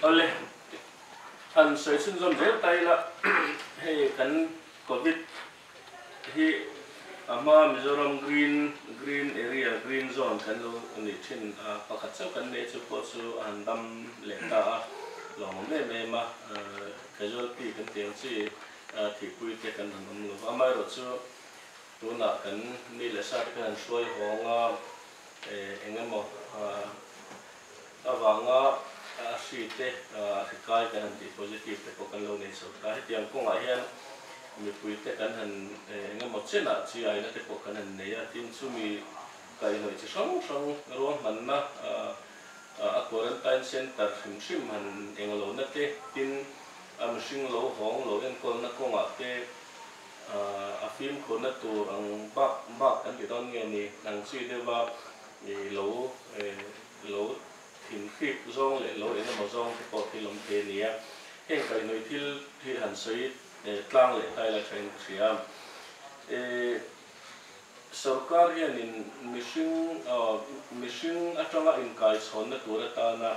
Awle, an sawi chhin zawn zel ta ila, hei kan Covid hi a hma Mizoram Green, Green Area, Green Zone kan lo nih thin a, pakhat chauh kan nih chu pawh chu a han dam leh ta a, lo awm em em a, casualty kan tih ang chi thihpui te kan han awm lo va, amaherawh chu tunah kan ni leh sa te kan han hruai hawng a, eng emaw. avanga a hri te a hri kai kan han tih positive te pawh kan lo nei chho ta hetiang kawngah hian mipui te kan han engemaw chenah chi aina te pawh kan han nei a tin chumi kaihhnawih chi hrang hrang ruang hmanna a quarantine center hrim hrim han eng lo na te tin a mihring lo hawng lo enkawl na kawngah te a fimkhur na tur ang bak bak kan ti dawn nge ni ang chi deuh a. I lo eh lo thin hrip zawng leh lo en emaw zawng te pawh thil awm thei a nia. Heng kaihhnawih thil hi han sawi eh tlang leh khai la thain ka hria. Eh sorkar hianin mihring ah mihring atanga inkaichhawnna tur atana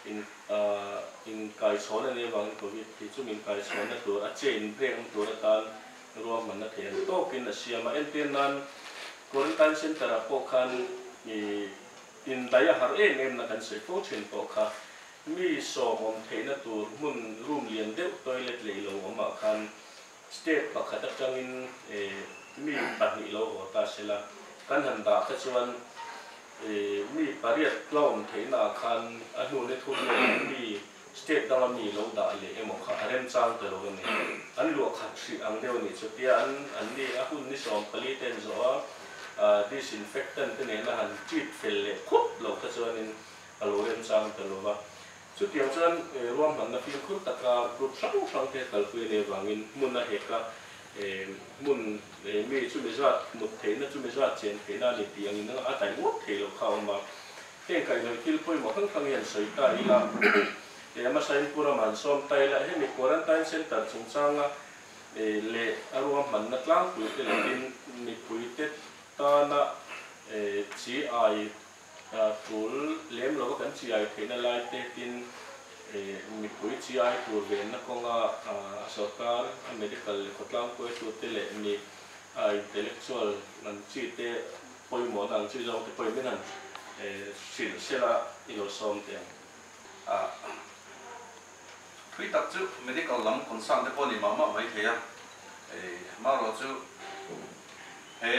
in ah inkaichhawn a nih avangin Covid hi chu min kaichhawnna tur a chain break na tur atan, Ruahman a thlen tawkin a siam a, entir nan Quarantine Centre ah pawh khan ih in daih a harh em em na kan sawi fo thin pawh kha, mi sawmawm theihna tur hmun room lian deuh toilet lei lo awm ah khan step pakhat atang in ih mi pahnih lo haw ta se la, kan han dah kha chuan ih mi pariat tlawn theihna ah khan a hnun i thum leh in mi State dang a mi lo dah leh emaw kha a remchang ta lo a ni. An luah khat hrih ang deuh a ni chutia an an ni a hun ni sawm pali te an zawh a, ah disinfectant te nen a han treat fel leh khup loh kha chuanin a lo remchang ta lo a. Chutiang chuan eh ruahmanna fimkhur taka group hrang hrang te kalpui nei vangin hmun a hek a, eh hmun eh mi chumi zat mut theihna chumi zat chen theihna a ni tih ang in a taih ngawt thei loh kha a awm a. Heng kaihnawi thil pawimawh hrang hrang hi an sawi ta i a, e ama sain Pura man sawm ta ila hemi quarantine centre chungchanga e leh a ruahmanna tlangpuite leh tin mipuite tana e chi ai a tul lem lova kan chi ai theihna lai te tin e mipui chi ai tur venna kawnga a sorkar a medical leh khawtlangpuitu te leh mi a intellectual an chi te Pawimawhna ang chu zawngte pawhin min han hrilh sil a, i lo sawm teh ang. A thui tak chu medical lam concern te pawh a ni mah mah mai thei a, marawh chu he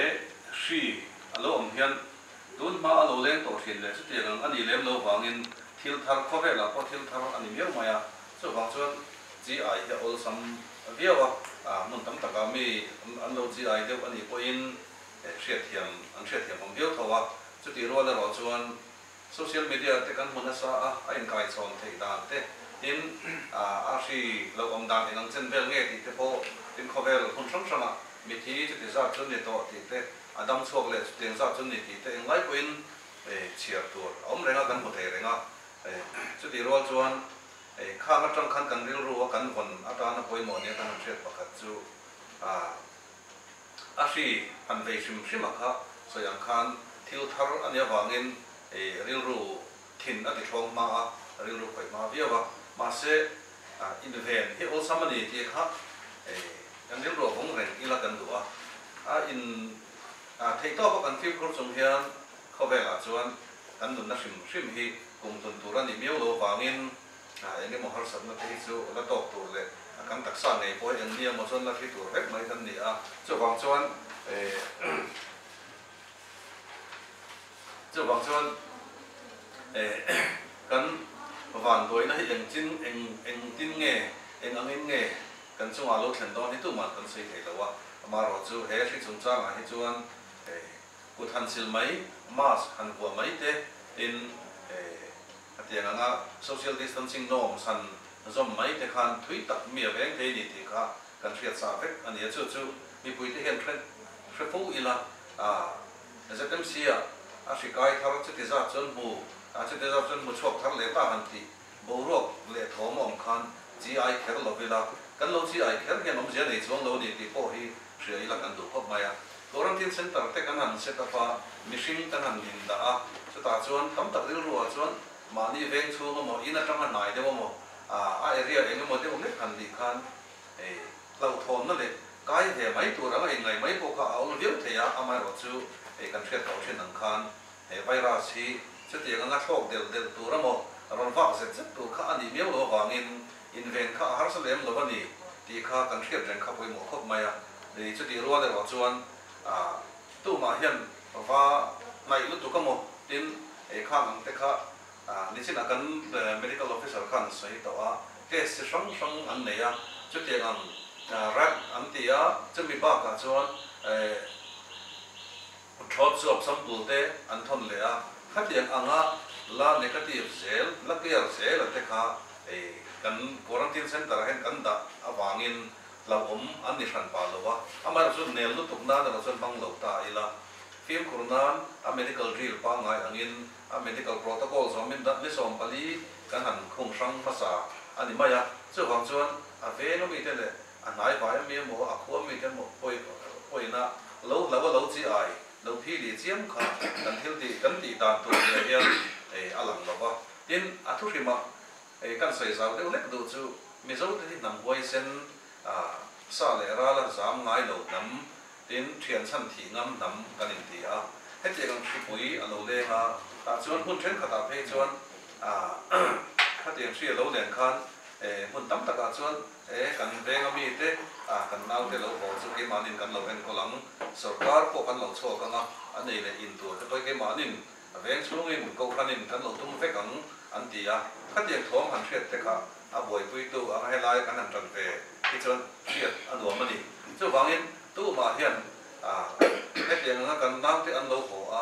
hri a lo awm hian tun hma a lo leng tawh hrin leh chuti ang ang a nih lem lo vangin thil thar khawvel ah pawh thil thar a ni miau mai a, chuvang chuan GI hi a awlsam viau a, a hmun tam tak ah mi an lo GI deuh a nih pawhin. An hriatthiam an hriatthiam awm viau tho a, chutih rual erawh chuan social media te kan hmu nasa a, a inkaichhawn theih dan te, tin a hri lo awm dan eng ang chen vel nge tih te pawh tin khawvel hmun hrang hrang ah mithi chuti zat chu ni tawh tih te, a dam chhuak leh chutiang zat chu ni tih te eng lai pawhin chhiar tur a awm reng a, kan hmu thei reng a, chutih rual chuan khang atang khan kan rilru a kan vawn atana pawimawh nia kan han hriat pakhat chu a. A hri han vei hrim hrim a kha sawi ang khan thil thar a nia vangin i rilru thin a tihlawm hma a, a rilru khawih hma viau a. Mahse, inven hi awlsam a ni tih kha kan rilru a vawng reng ila kan duh a. A in theihtawpa kan fimkhur chung hian khawvelah chuan kan nunna hrim hrim hi kum tlun tur a nih miau lo vangin Eng emaw harsatna te hi chu la tawk tur leh a kang taksa ngei pawh hi enni emaw chuan la hri tur vek mai kan ni a. Chuvang chuan chuvang chuan kan van buaina hi eng chin eng engtin nge eng angin nge kan chungah lo thlen dawn hi tuman kan sawi thei lo a. Amarawh chu he hri chungchangah hi chuan kut han sil mai, mask han vuah mai te in A tiang ang a, social distancing norms han zawm mai te khan thui tak mi a veng thei ni tih kha kan hriat sa vek a ni a. Chu chu mipui te hian hre hre fo ila aah ZMC-a a hri kai thar a, chuti zat chuan hmu aah chuti zat chuan hmu chhuak thar leh ta han tih boruak leh thawm a awm khan chi ai kher lo ila kan lo chi ai kher hian awmzia nei chuang lo a ni tih pawh hi Hria ila kan duh khawp mai a, Quarantine Centre te kan han set up a, mihring kan han din dah a, chutah chuan tam tak rilru ah chuan mahni veng chhung emaw, in atanga hnai deuh emaw, a area eng emaw deuh hlek han nih khan hei hlauhthawmna leh kai ve mai tur anga inngaih mai pawh kha a awm viau thei a, amaherawh chu hei kan hriat loh thin ang khan he virus hi chutianga ngathawk delh delh tur emaw, rawn vak zet zet tur kha a nih miau lo avangin, Inveng kha a harsa lem lo a ni tih kha kan hriat reng kha pawimawh khawp mai a ni. Chutih rual erawh chuan tumah hian va hnaih lutuk a maw tin ei khang ang te kha nichin a kan medical officer khan sawi tawh a, test chi hrang hrang an nei a, chutiang ang rat an ti a, chumi bakah chuan. Thawt chhuak samtulte an thawn leh a, khatiang anga la negative zel, la clear zel an te kha hei kan quarantine centre ah hian kan dah avangin hlauhawm an ni hran pah lo a, amaherawhchu chu nel lutuk nan erawh chuan hmang lo ta ila, fimkhur nan a medical drill pangngai angin a medical protocol zawmin dah ni sawm pali kan han khung hrang hmasa a ni mai a, chuvang chuan a vengami te leh A hnaivai ami emaw a khua mite emaw pawina lo hlauh a lo chi ai lo phi leh chiam kha kan thil tih kan tih dan tur leh hian a lang lo va. Tin, a thu hrim a kan sawi zau deuh hlek duh chu Mizo te hi hnam huaisen a sa leh ral a zam ngai lo hnam tin thian chhan thih ngam hnam kan in ti a. Hetiang ang hripui a lo leng a tah chuan hmun thenkhat ah phei chuan khatiang hri a lo len khan hmun tam tak ah chuan E, kan veng a mi te, a, kan naute lo haw chu keimahni'n kan lo enkawl ang, sorkar pawh kan lo chhuak ang a, a nei leh in tur te pawh hi keimahni'n a veng chhungin Kohhranin kan lo tum vek ang, an ti a. Khatiang thawm han hriat te kha a buaipuitu ang a helai kan han tan ve hi chuan hriat a nuam a ni. Chuvangin tumah hian, a, hetiang anga kan naute an lo haw a,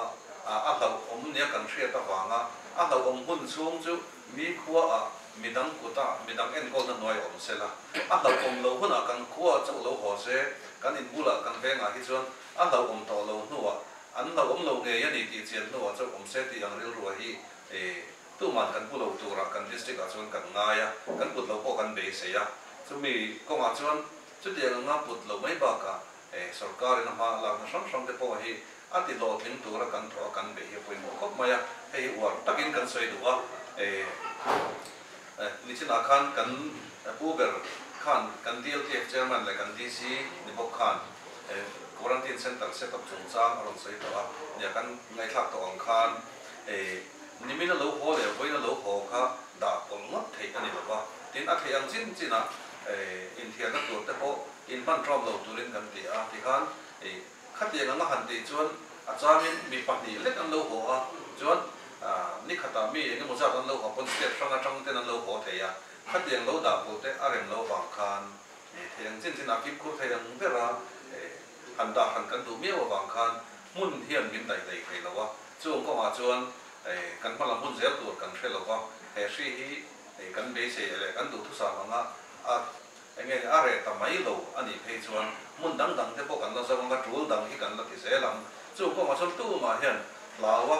a, a hlauhawm nia kan hriat avanga a hlauhawm hun chhung chu Mi khua ah midang kut ah midang enkawl na hnuai awm se la, a hlauh awm lo hun ah kan khua chauh lo haw se, kan in bul ah kan veng ah hi chuan a hlauh awm tawh lo hnu ah an hlauh awm lo ngei a ni tih chian hnu ah chauh awm se tih ang rilru a hi e, tu man kan pu lo tur ah kan district ah chuan kan ngai a, kan kut lo pawh kan beisei a. Chu mi kawng ah chuan chutiang anga put lo mai bak ah Eh, sorkarin a hma a lakna hram hram te pawh hi a ti hlawhtling tura kan thaw a kan beh hi a pawimawh khawp mai a, hei hi uar takin kan sawi duh a. Eh, eh, nichin ah khan kan pu ber khan kan DLTF Chairman leh kan DC ni bawk khan eh, quarantine center set up chungchang a rawn sawi tawh a nia kan ngaihthlak tawh ang khan eh, nimin a lo haw leh vawiin a lo haw kha dah pawlh ngawt theih a ni lo va, tin a theih ang chin chin ah eh, inthiarna tur te pawh In hman ṭawm lo turin kan ti a, tikhan ih khatiang anga han tih chuan a changin mi pahnih lek an lo haw a, chuan nikhatah mi eng emaw zat an lo haw pawn state hranga ṭang ten an lo haw thei a, khatiang lo dah pawh te a rem lo vang khan ih thei ang chin chin a kimkhur thei ang ber a, ih han dah hran kan duh miau avang khan hmun hian min daih daih thei lo a, chung kawngah chuan ih kan hma lam hun zel tur kan hre lo va, he hri hi ih kan beisei leh kan duhthusam anga a Enge ni a reh ta mai lo a nih phei chuan hmun dang dang te pawh kan la zawng ang a tul dang hi kan la ti zel ang. Chung kawng a chawlhtu mah hian hlaua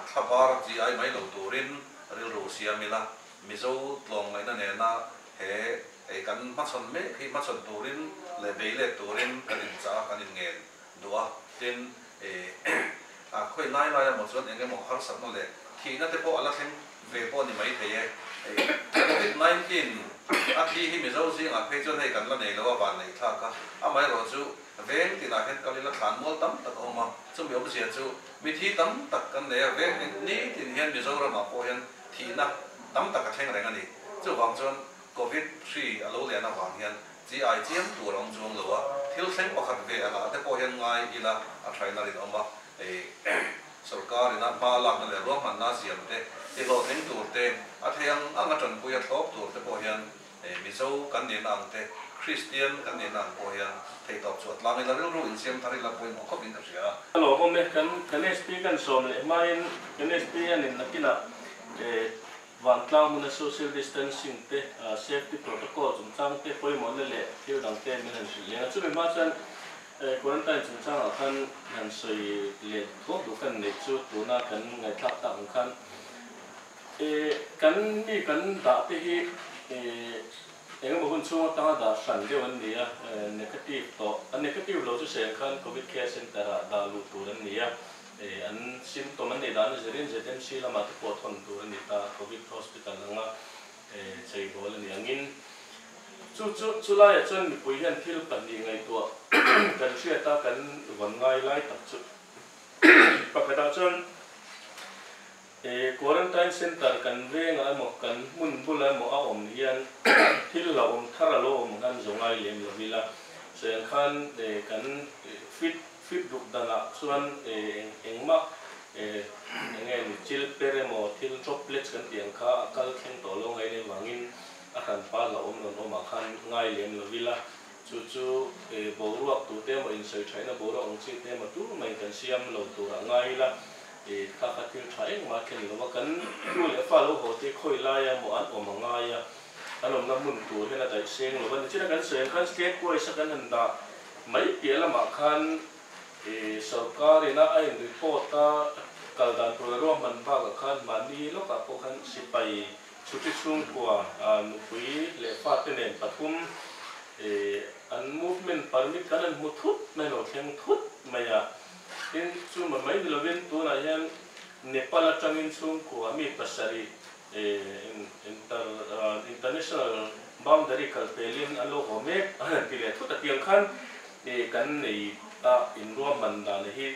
thla var chi ai mai lo turin rilru siam ila Mizo tlawng ngaihna nena he ei kan hmachhawn mek hi hmachhawn turin leh bei let turin kan inchah a kan inngen duh a tin E a khawi lai lai a maw chuan eng emaw harsatna leh thihna te pawh a la thleng ve pawh ni mai thei e. Covid nineteen a thi hi Mizo zingah phei chuan hei kan la nei loha vanneih thlak a amaherawh chu veng tinah hian kal i la thlan mual tam tak a awm a, chumi awmzia chu mithi tam tak kan nei a, vek ni tin hian Mizoramah pawh hian thihna tam tak a thleng reng a ni. Chuvang chuan. Covid hri a lo lian avang hian GI chiang tur a awm chuang lo a, thil thleng pakhat ve a la a te pawh hian ngai ila a thaina rin awm a, sorkarin a hma lakna leh ruahmanna a siam te, tihlawh thleng tur te, a thei ang ang a tanpui a thlawp tur te pawh hian Mizo kan nena ang te, Kristian kan nena ang pawh hian theihtawp chu a tlang ila rilru insiam thar ila pawimawh khawp in ka hria a. Ka lo awm e, kan kan HP kan sawm leh hmain kan HP hian in a kinah Vantlang hmuna social distancing te, safety protocol chungchang te pawimawh na leh thil dang te min han hrilh leng a. Chumi hma chuan quarantine chungchang ah khan han sawi leh tlawk duh kan neih chu tuna kan ngaihthlak tak ang khan kan mi kan dah te hi eng emaw hun chhung atanga dah hran deuh an ni a, negative tawh, a negative lo chu seng khan covid care center ah dah luh tur an ni a. Hei an symptom an nei dan a zirin zet em si lamah te pawh thawn tur a ni ta, Covid Hospital anga cheibawl a ni angin chu chu chu laia chuan mipui hian thil pahnih ngaihtuah kan hriat a, kan vawn ngai lai tak chu pakhatah chuan He quarantine centre kan vengah emaw, kan hmun bulah emaw a awm hian thil hlauhawm thar a lo awm han zawng ai lem lo ila, sawi ang khan kan fit fit ruk danah chuan engmah eng nge ni chilper emaw thil droplets kan tih ang kha a kal thleng tawh lo ngain vangin a hranpa hlauhawm rawn awmah khan ngai lem lo ila. Chu chu boruak tute maw insawi tha ina boruak ang chi te maw tur maiin kan siam lo turah ngai ila kha kha thil tha engmah thlen lo a kan tu leh fa lo haw te khawi laia maw an awm a ngai a an awmna hmun tur hian a daih seng lo a ni china kan sawi ang khan state wise a kan han dah mai piah lamah khan sorkar in a a in report a kal dan tur a ruahman bakah khan mahni lawkah pawh khan sipai Chuti chhungkua nupui leh fate nen pathum an movement permit kan rawn hmu thut mai lo, thleng thut mai a. Tin, chu mai mai ni lovin tunah hian Nepal atangin chhungkua mi pasarih international boundary kal felin an lo haw mek a rawn ti leh thut atiang khan kan nei a inruahman dan hi.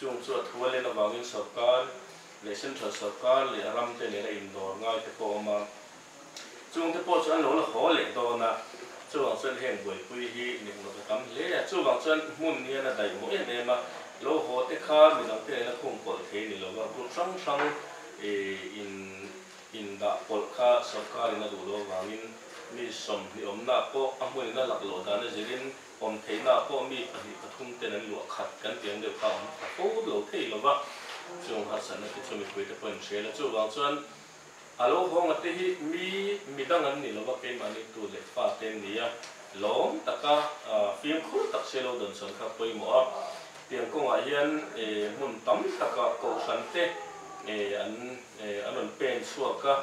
Chung chu a thu a len avangin sawrkar leh central sawrkar leh a ram te nena indawr ngai te pawh a awm a. Chung te pawh chu an lo la haw leh dawn a, chuvang chuan heng buaipui hi nikna ta tam hle a, chuvang chuan hmun hian a daihmawh em em a, lo haw te kha mi dang te nena khum pawlh thei ni lo va, group hrang hrang in in dah pawlh kha sawrkarin a duh lo avangin mi sawm hnih awmna pawh a hmun in a laklawh dan a zirin Awm theihnaah pawh mi pahnih pathum ten an luah khat kan tih ang deuh kha awm ta fo lo thei lo va, chung harsatna te chu mipui te pawh an hrel a, chuvang chuan a lo hawng ate hi mi midang an ni lo va, keimahni tu leh fa te an ni a, lawm taka fimkhur tak se lo dawn sawn kha pawimawh a, tiang kawngah hian hmun tam taka kohhran te an an rawn pen chhuak a,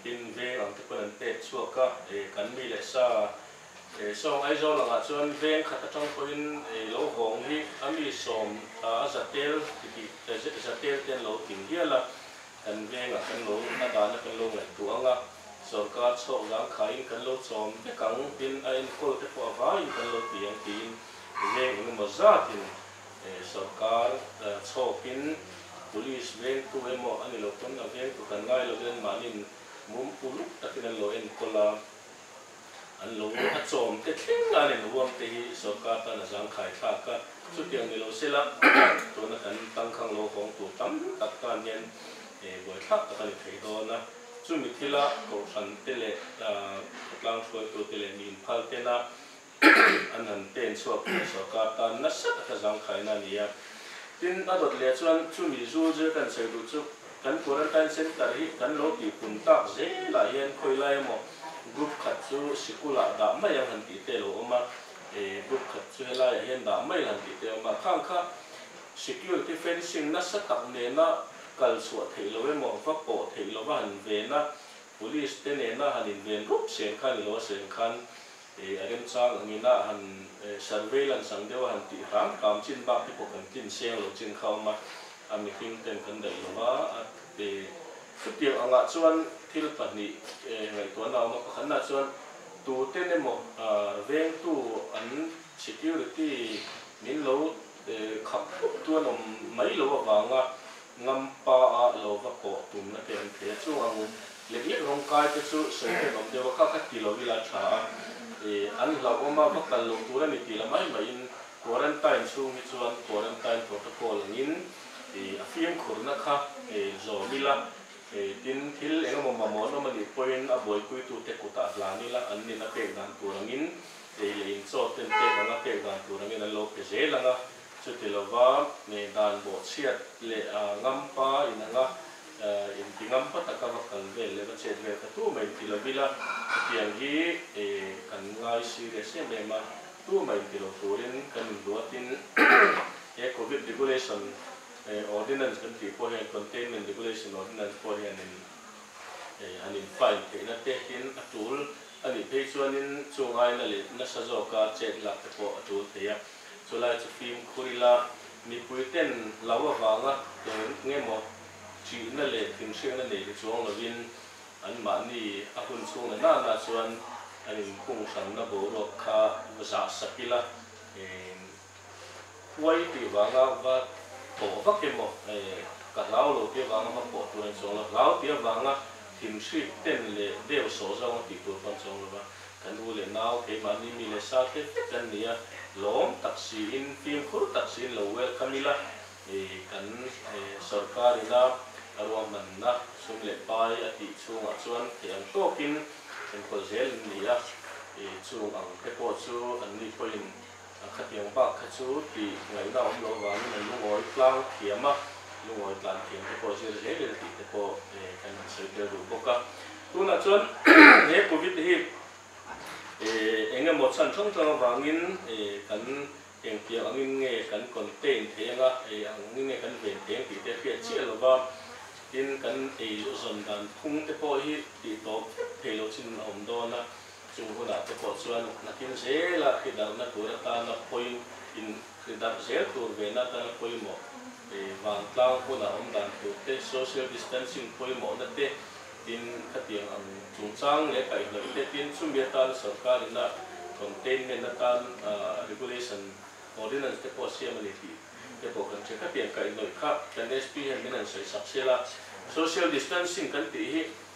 tin veng ang te pawn an pek chhuak a, kan mi leh sa. He sawng Aizawl angah chuan veng khat atang pawhin ei lo vawng hi a mi sawm a a za tel ti tih a za za tel te an lo tin hial a, kan vengah kan lo a dana kan lo ngaihtuah ang a, sorkar chhawk zang khaiin kan lo chawm vek ang tin a enkawl te pawh a vaiin kan lo ti ang tiin veng eng emaw zatin eh sorkar chhawkin police vengtu emaw a ni lo pawn a vengtu kan ngai lovin an mahni in mum uluk takin an lo enkawl a. An lo a chawm te thleng a nen huam te hi sorkar tan a zangkhai thlak a, chutiang ni lo sela tuna kan tangkhang lo hawng tur tam tak tan hian buai thlak tak a ni thei dawn a. Chumi thila kohhran te leh khawtlang hruaitu te leh miin phal tena an han pen chhuak te hi sorkar tan nasa taka zangkhaina a ni a. Tin a dawt leh chuan chumi zul zir kan sawi duh chu Kan Quarantine Centre hi kan lo tih pum tak zelah hian khawilai emaw group khat chu sikulah dah mai ang han tih te lo awm a, group khat chu helaiah hian dah mai la han tih te awm a, khang kha security fencing nasa tak nena kal chhuah theih lo emaw va pawh theih lova han ven a, police te nena han inven rup chen kha ni lo a siam khan A remchang ang in a han surveillance ang deuh a han tih hrang kam chin bak te pawh kan tlin seng lo chin kha awm a, a mihring ten kan daih lo va a chutiang ang ah chuan thil pahnih ngaihtuah na a awm a, pakhat na chuan tu ten emaw veng tu an security min lo khap thup tuan awm mai lo avang a Ngam pa a lo va kawh tumna te an thei a, chung ang u, lek lek rawng kai te chu sawi vel awm deuh a, kha kha ti lo ila tha a, ih an hlauhawm a, va kal lo tur a ni tih la mai maiin quarantine chhung hi chuan quarantine protocol angin ih a fimkhurna kha ih zawm ila, ih tin thil eng emaw mamawh nawm a nih pawhin a buaipuitu te kutah hlan ila an nin a pek dan tur angin ih leh inchawt ten pek anga pek dan tur angin an lo pe zel ang a. Chuti lova ngei dan bawh chhiat leh ngam pa in anga in ti ngam pa taka va kal vel leh va chet vel ka tumah in ti lo ila, hetiang hi kan ngai serious em em a, tumah in ti lo turin kan in luat in he Covid Regulation Ordinance kan tih pawh hian Containment Regulation Ordinance pawh hianin han in fine theihna te hian a tul a nih phei chuan in chungaina leh nasa zawka chet lak te pawh a tul thei a. Chulai chu fimkhur ila mipui ten lo avanga eng eng emaw ṭihna leh thinhriatna nei hi chuang lovin anmahni a hun chhungna nanah chuan an inkhung hranna boruak kha zah sak ila eng huai tih vanga va pawh vak emaw ka hlau lo tih avanga va pawh tur a ni chuang lo, hlau tih avanga thinhrit ten leh deu sawh zong a tih tur pawh a ni chuang lova Kan nu leh nau, keimahni mi leh sa te kan ni a, lawm tak siin, fimkhur tak siin lo welcome ila, ih, kan sorkar ina ruahmanna sum leh pai a tih chungah chuan theih ang tawkin enkawl zel an ni a, ih, chung ang te pawh chu an nithawin A khatiang bak kha chu tih ngaihna awm lo vangin a lungawi tlang thiam a, lungawi tlan thiam te pawh zir hle rel tih te pawh kan insawi tel duh bawk a. Tunah chuan he Covid hi eng emaw chhan hrang hrang avangin kan engtiang angin nge kan contain thei ang a, angin nge kan ven thei ang tih te a hriat chiah lo va, tin kan eizawn dan phung te pawh hi tih tawp vek thei lo chin a awm dawn a. Chu hunah te pawh chuan nakin zela hridarna tur atana pawi in hridarh zel tur ve na atana pawimawh e, vantlang huna awm dan tur te, social distancing pawimawhna te tin khatiang ang chungchang leh kaihnawih te tin chumi atana sorkar in a containment atan regulation ordinance te pawh siam a ni tih te pawh kan hre. Khatiang kaihnawih kha kan SP hian min han sawi sak sel a, social distancing kan tih hi.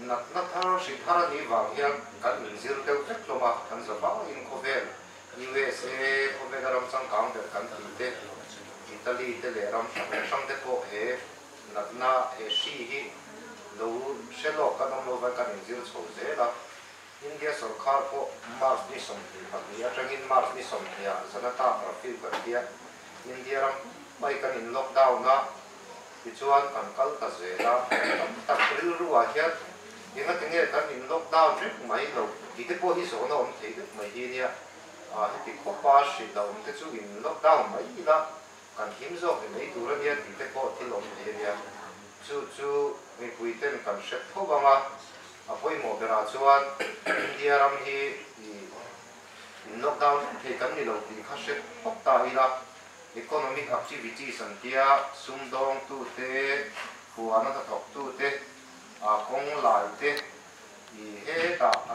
Natna thar hri thar a nih vang hian kan min zir deuh vek hlawm a, kan za bangin khawvel usa khawvela ram changkang ber kan ti te, Italy te leh ram hrang hrang te pawh he natna he hri hi lo hre lawk kan awm lo vai kan in zir chho zel a, India sawrkar pawh March ni sawmhnih pahnih atangin March ni sawmhnih ah Janata Curfew kan hria. India ram pai kan in lockdown a, tichuan kan kal ta zel a. Tam tak rilru ah hian enga tinge kan in lockdown reng mai lo tih te pawh hi zawhna awm thei deuh mai hi nia. Heti khawpa hrilh a awm te chu in lockdown mai ila. Kan hlim zawk in ei tur ania tih te pawh thil awm thei ania. Chu chu mipui ten kan hret tho vang a. A pawimawh berah chuan India ram hi ih in lockdown vek thei kan ni lo tih kha hret hawk ta ila economic activities an tia sum dawng tu te, puana hnathawk tu te, aa kawng lai te ih hetah a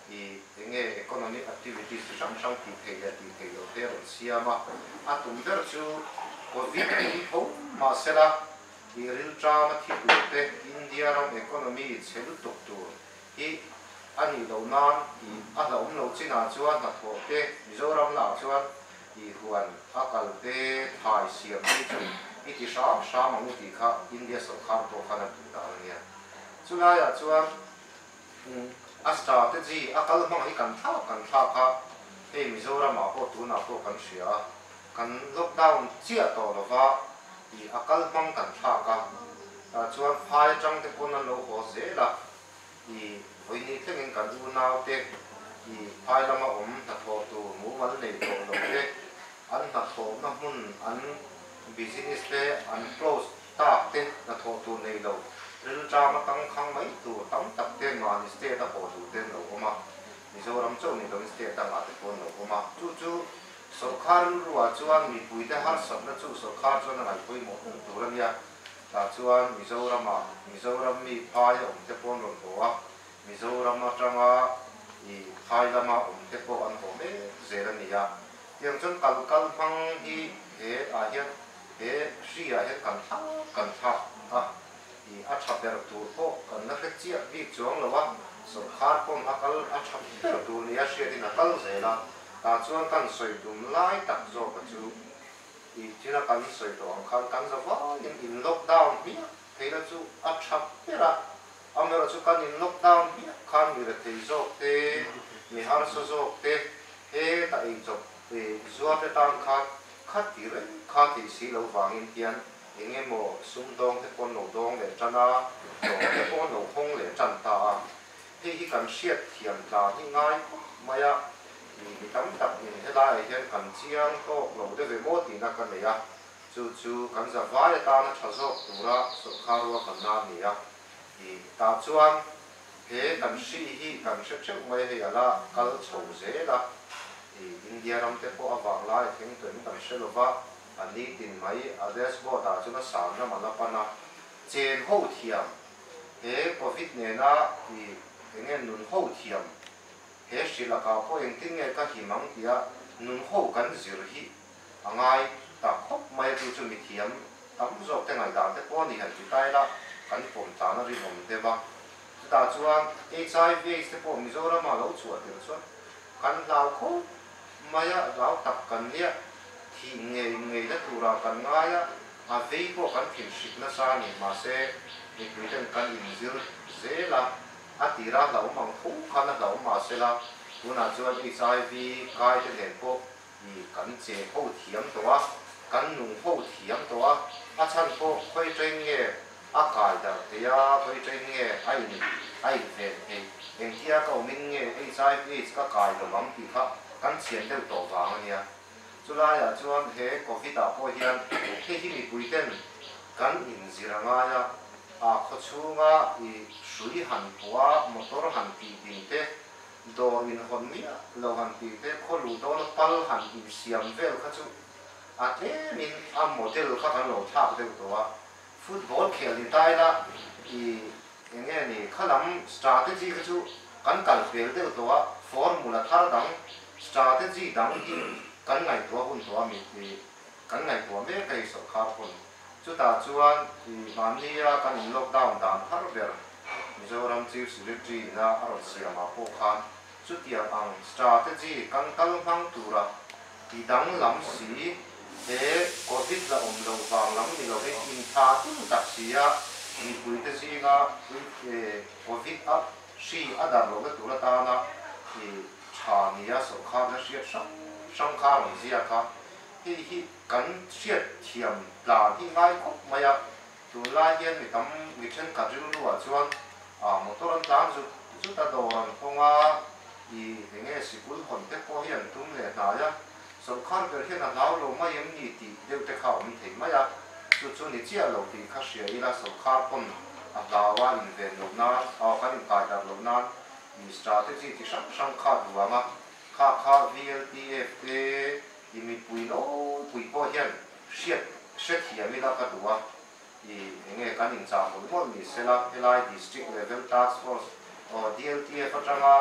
I enge economic activities chi hrang hrang tih theih leh tih theih lo te a rawn siam a, a tum ber chu Covid a ni ho mahsela i rilṭam a thi tur te India ram economy chhe lutuk tur hi a nih loh nan i a hlauhawm lo chinah chuan hnathawh te Mizoram lah chuan i huan a kal te thai siam hi chu i ti hram hram ang u tih kha India sawrkhar pawh khan a duh dan ania chulaiah chuan Astar te chi a kal hmang hi kan thlak kan thlak a, hei Mizoram ah pawh tunah pawh kan hria a, kan lockdown chiah tawh lo va i a kal hmang kan thlak a, tah chuan phai atang te pawn an lo haw zel a, i vawi ni thleng in kan unau te, i phai lam a awm hnathawh tur mumal nei tawh loh te, an hnathawh na hmun an business te an close Tâk te hna thawh tur nei lo, rilṭâm atang khang mai tur tam tak te mahni state a haw tur te an lo awm a, Mizoram chauh nei loin state dangah te pawh an lo awm a. Chu chu sawrkha rilruah chuan mipuite harsatna chu sawrkha chuan a ngaih pawimawh hung tur a nia. Tah chuan Mizorama, Mizoram mi phai a awm te pawh an rawn haw a, Mizoram aṭanga i phai lama awm te pawh an haw mek zel a ni a. Tiang chuan kal kal hmang hi he ah hian. He hriah hian kan thla kan thla a, ih a tha ber tur pawh kan la hre chiah bik chuang lo a, sawrkhar pawn a kal a tha ber tur nia hriatin a kal zel a, tah chuan kan sawi dum lai tak zawka chu ih thila kan sawi tawh ang khan kan za vaiin in lock down hmiah theihna chu a tha ber a, amaherawh chu kan in lock down hmiah khan mi rethei zawk te, mi harsa zawk te, he ta ei chawp ih zuar te tan khan Khat tih reng kha tih si lo vangin hian eng emaw sum dawng te pawn lo dawng leh tan a, tlawh te paw'n lo hawng leh tan ta a. Hei hi kan hriat thiam tla nghi ngai khawp mai a, mi ni tam tak in helaiah hian kan chiang tawk lo de ve maw tihna ka nei a, chu chu kan zavai atana tha zawk tura sawrkha rual kalna a ni a, tih tah chuan He kan hri hi kan hre ṭeuh mai hei a la kal chho zel a, i India ram te pawh a vang laia theng turin kan hre lo va, a ni tin mai a Dels Bot ah chuan a san ram a la pan a, chen ho thiam he Covid nena i eng nge nun ho thiam he hri lakah pawh engtin nge ka him ang tia nun ho kan zir hi A ngai tak khawp mai a chu chu mithiam tam zawk te ngaihdar te pawh a nih han ti ta ila kan pawm tlan a rinawm dep a. Chutah chuan hiv, aids te pawh Mizoramah lo chhuahter chuan kan hlau khawp mai a, rau tak kan nia, thih nge inngeina turah kan ngai a, a vei pawh kan thinhrip nasa a ni mahse mipui ten kan inzir zel a, a tira hlauhawm ang tho khan a hlauhawm mahsela tunah chuan hiv kaite nen pawh Mi kan che ho thiam tawh a, kan nung ho thiam tawh a, a chhan pawh Khawitrain nge a kai darh thei a, Khawitrain nge a in a in ven thei, engtia ka awmin nge HIV aids ka kai lawm ang tih kha kan chhian deuh tawh vang a nia. Chulaiah chuan he Covid ah pawh hian heihi mipuiten kan in zir a ngai a, a khawchhunga i hrui han pawh a, motor han tih ding te, Dawr min hawn miah lo han tih te khaw luh dawn a pal han in siam vel kha chu a tlem in a model kha kan lo thlak deuh tawh a, football khel ni tai la i eng nge ni kha lam strategy kha chu kan kal fel deuh tawh a, formula thar dang strategy dang hi kan ngaihtuah hun tawh a min ti. Kan ngaihtuah mek a i sawrhkhar hun. Chutah chuan i hmahnia kan in lockdown dan har ber. Mizoram Chief Secretary-na a rawn siamah pawh khan chutiang ang strategy kan kal hmang tura i danglam si, he Covid la awm loh vang lam ni lo hi intha tum tak si a, mipuite zinga Covid a Hri a dar lohna tur atana khi tha nia sawrkharna hriat hrang hrang kha a rawn ziak a, hei hi kan hriatthiam tlan hi ngai khawp mai a, tunlai hian mi tam mi thenkhat rilruah chuan ah motor an tlan zut zut a, dawr an kawng a, ih enge sikul hawnte pawh hi an tum leh hnai a, Sawrkar ber hian a hlau lo mai em ni tih deuh te kha awm thei mai a, chu chu ni chiah lo tih kha hria ila sawrkar pawn a hlau a inven loh nan, aw kan inkaidarh loh nan Minister te chi ti hrang hrang kha a duang a, kha kha VLPF te i mipui nawlpui pawh hian hriat hrethiam ila ka duh a. I eng nge kan inchah hmul hmul ni sela helai district level task force aw DLTF atanga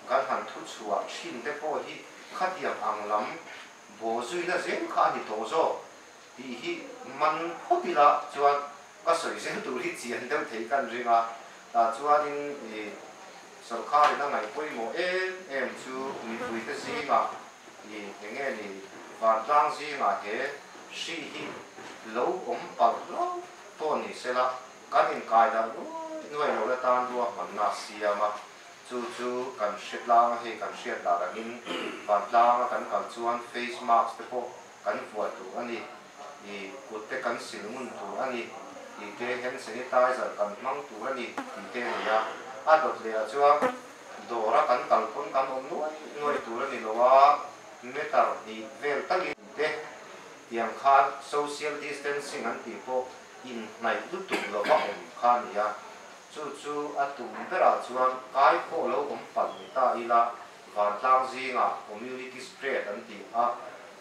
kan han thu chhuah thin te pawh hi khatiang ang lam bawhzuina zel kha a ni tawh zawk tih hi man phawt ila chuan ka sawi zel tur hi chian deuh thei kan ring a tah chuanin i Sorkarin a ngaih pawimawh em em chu mipuite zingah ni eng nge ni vantlang zingah he hri hi lo awm palh hlauh tawh a ni sela kan inkaidah nuai nuai lo la tan rua hmanna a siam a, chu chu kan hretlanga hei kan hriat dan angin vantlang a kan kal chuan face mask te pawh kan vuah duh a ni. i kut te kan sil ngun tur a ni tih te, hand sanitizer kan hmang tur a ni tih te a ni a. A dawt leh ah chuan dawra kan kal pawn kan awm nuai nuai tur a ni lo a, meter hnih vel tak in tih te tiang khan social distancing an tih pawh inhnaih lutuk lo va awm kha a ni a. Chu chu a tum berah chuan kai khawh lo awm palh ni ta ila Vantlang zinga community spread an tih a,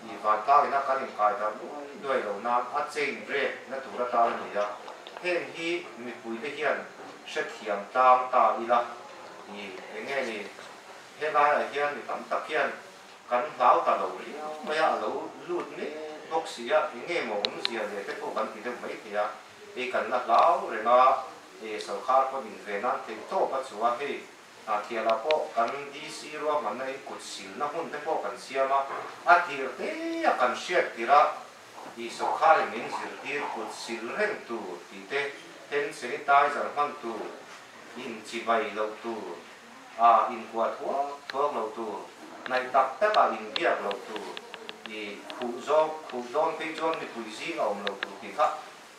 i vantlangina kan inkaitar nuai nuai lo nan a chain break na tur atan a ni a, heng hi mipuite hian hrethiam tlang ta ila, i eng nge ni, helaiah hian mi tam tak hian kan hlau ta lo riau mai a, a lo lut met bawk si a, eng nge maw awmzia leh te pawh kan ti deuh mai thei a, hei kan la hlau reng a, e sorkar pawn inve nan thei tawp a chua hei Hnahthialah pawh kan DC ruahmanna inkut silna hmun te pawh kan siam a, a tirh teia kan hriat tirh a, i sawkhain min zirtir kut sil reng tur tih te, hand sanitizer hman tur, in chi vai loh tur, a in kuah thuak thuak loh tur, hnaih tak tak a in biak loh tur, i khuh zawng khuh dawn phei chuan mipui zing a awm lo tur tih kha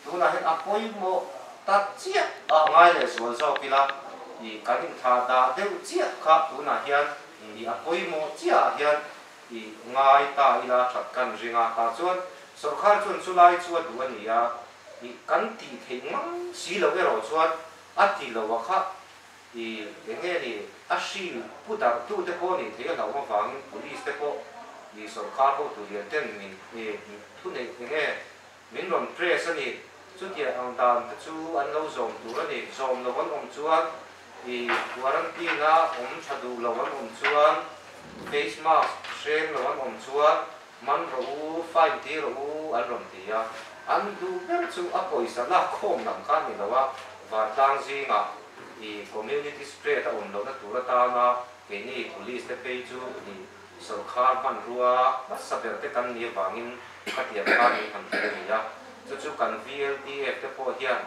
Tunah hian a pawimawh ta chiah a ngai leh zual zawk ila i kan intha dah deuh chiah kha tunah hian i a pawimawh chiahah hian i ngai ta ila that kan ring a, tah chuan sawrkar chuan chu lai chu a duh a ni a, i kan tih theih ngang si loh erawh chuan a ti lo a khah i eng nge ni a hri pu darh tu te pawh a nih theih a hlauhawm avangin police te pawh i sawrkar ho turial ten min thu neih eng nge Min rawn press a ni. Chutia ang dan te chu an lo zawm tur a ni. Zawm lo an awm chuan ih quarantine a awm tha duh lo an awm chuan face mask hreng lo an awm chuan man rawh u, fine ti rawh u an rawn ti a. An duh ber chu a pawisa lak khawm lam kha a ni lo a, vantlang zingah ih community spread a awm lohna tur atana keini police te phei chu ih. Sawrkar hmanrua hmasa ber te kan ni avangin a tiang kha ni han ti a ni a, chu chu kan VLDF te pawh hian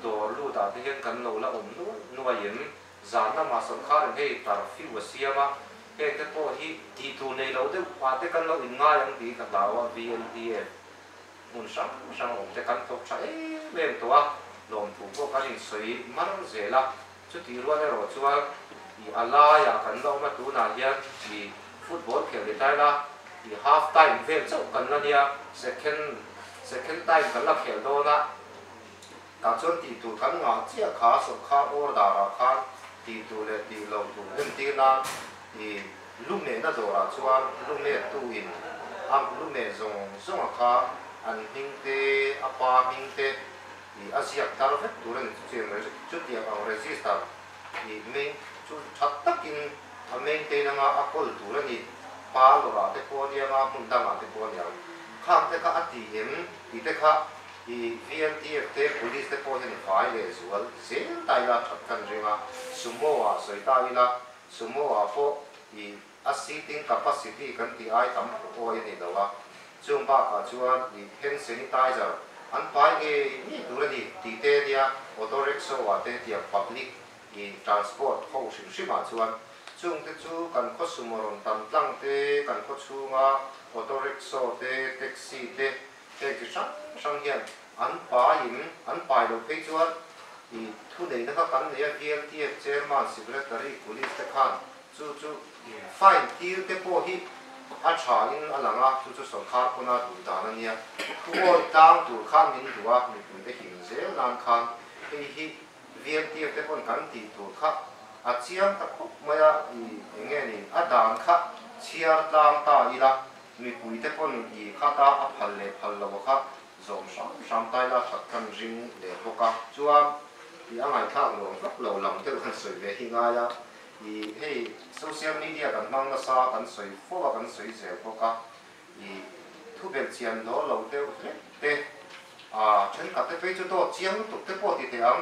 dawr lut ah te hian kan lo la awm nuai nuai em? Zan lamah sawrkar in hei tar fiu a siam a, heng te pawh hi tih tur nei lo deuh ah te kan lo in ngai ang tih ka hlau a, VLDF hmun hrang hrang awm te kan thawk tha em em tawh a, lawmthu pawh kan in sawi mar zel a, Chutih rual erawh chuan ih a laiah kan la awma tunah hian ih football khel ni tlai la ih half time vel chauh kan la nia second second time kan la khel dawn a tah chuan tih tur kan ngah chiah kha sawrkhar order ah khan tih tur leh tih lo tur en tir nan ih lu mehna dawrah chuan lu met tu in a lu meh zawng zawng a kha an hming te a pa hming te ih a ziak tar vek tur a ni chu chin rei chutiang ang register ih main chu that takin a maintain anga a call tur a ni pa lawrah te pawh a ni anga hmun dangah te pawh a ni ang khang te kha a ti em ti te kha ih VLTF te police te pawh hian vai leh zual zel ta ila that kan ring a sumo ah sawi ta ila sumo ah pawh ih A seating capacity kan tih ai tam pawh awi a nih loh a, chung bakah chuan i hand sanitizer an pai ngei ngei tur a ni tih te a nia, auto rickshaw ah te tiang public i transport ho hrim hrim ah chuan chungte chu kan khawsum a rawn tam tlang te kan khawchhung a auto rickshaw te taxi te heng chi hrang hrang hian an pai in an pai loh phei chuan i thuneihna kha kan nei a hial tiek chairman secretary police te khan Chu chu fine thil te pawh hi a tha in a lang a, chu chu sawrkar pawn a duh dan a nia. Thu awi tlang tur khan min duh a, mipui te him zel nan khan hei hi vian tir te pawn kan tih tur kha a chiang ta khawp mai a, ih eng nge ni a dan kha chhiar tlang ta ila mipui te pawn ih khat a a phal leh phal lo a kha zawm hram hram ta ila that khan ring leh bawk a, chuan ih a ngaithlak nuam vak lo lam deuh khan sawi ve hi ngai a, I hei social media kan hmang nasa kan sawi fo a kan sawi zel bawk a i thu belh chian daw lo deuh hlek te a thenkhat te phei chu dawt chiang lutuk te pawh ti teh ang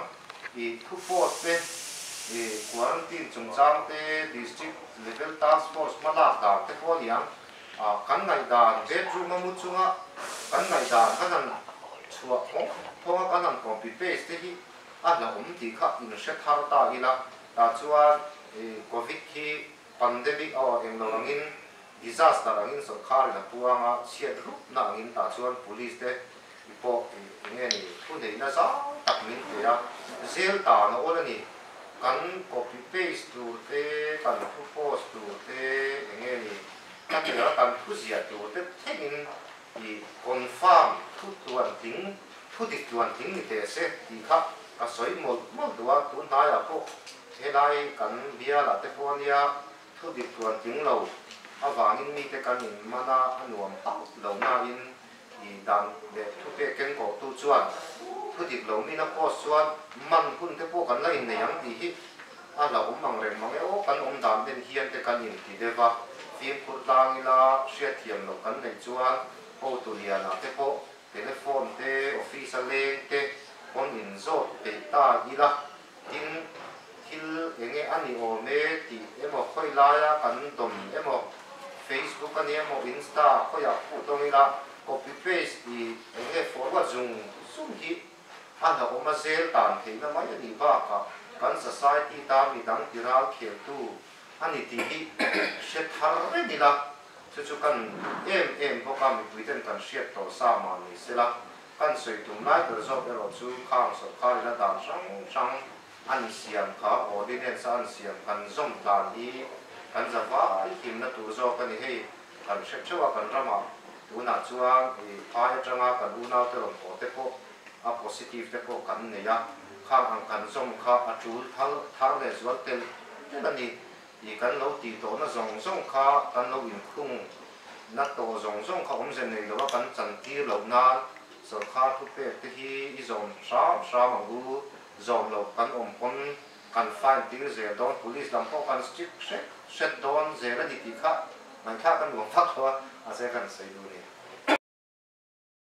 i thu port te i quarantine chungchang te district level task force hma lak dan te pawh a ni ang a kan ngaihdan bedroom a mu chunga kan ngaihdan kan han chhuah hawng hawng a kan han copy paste te hi a hlauhawm tih kha in hre thar ta ila. tah chuan i Covid hi pandemic aw englo angin disaster angin sawrkar in a puang a, chhiat rupna angin tah chuan police te i pawh i enge ni thuneihna zau tak min pe a, zel ta na awl a ni. Kan copy paste tur te, kan thu post tur te enge ni ka tia kan thu ziah tur te thlengin i confirm thu tuan tling Thu dik tluan thing ni teh se tih kha ka sawi mawlh mawlh duh a, tun hnaiah pawh helai kan biala te pawh a nia thu dik tluan thing lo avangin mite kan in man a, a nuam hauh lo nain i dan leh thu pek keng kawh tu chuan thu dik lo mina post chuan man hun te pawh kan la in nei ang tih hi a la awm ang reng mang e aw kan awm dan ben hian te kan in ti deuh a, fimkhur tlang ila hriatthiam loh kan neih chuan Hotuliana te pawh Telephone te, office a leng te pawn in zawt peih ta ila, tin, thil enge a ni awm e tih emaw khawi laia kan dawm emaw, Facebook a nih emaw Insta a khawiah phu tawng ila, copy paste i enge forward zung zum hi a hlauhawma zel tan theihna mai a nih bakah kan society ta midang tiral kheltu, a ni tih hi hre thar reng ila, chu chu kan em em bawk a, mipui ten kan hriat tawh sa mah ni sela, kan sawi tum lai ber zawk erawh chu khang sawrkar ina dan hrang hrang an siam kha, ordinance a an siam kan zawm dan hi kan za vai himna tur zawk a ni hei, kan hre theuh a kan ramah tunah chuan i phai atanga kan unaute rawn haw te pawh, a positive te pawh kan nei a, khang ang kan zawng kha a tul thal thar leh zual tel tel a ni tih kan lo tih tawh na zawng zawng kha kan lo in khung na tawh zawng zawng kha awm ze nei lo a kan chan tir loh nan sawrkar thu pek te hi i zawm hram hram ang u, zawm loh kan awm pawn kan fine tir zel dawn police lam pawh kan strict hret hret dawn zel a ni tih kha ngaihthah ka nuam mak lo a, mahse kan sawi du a ni.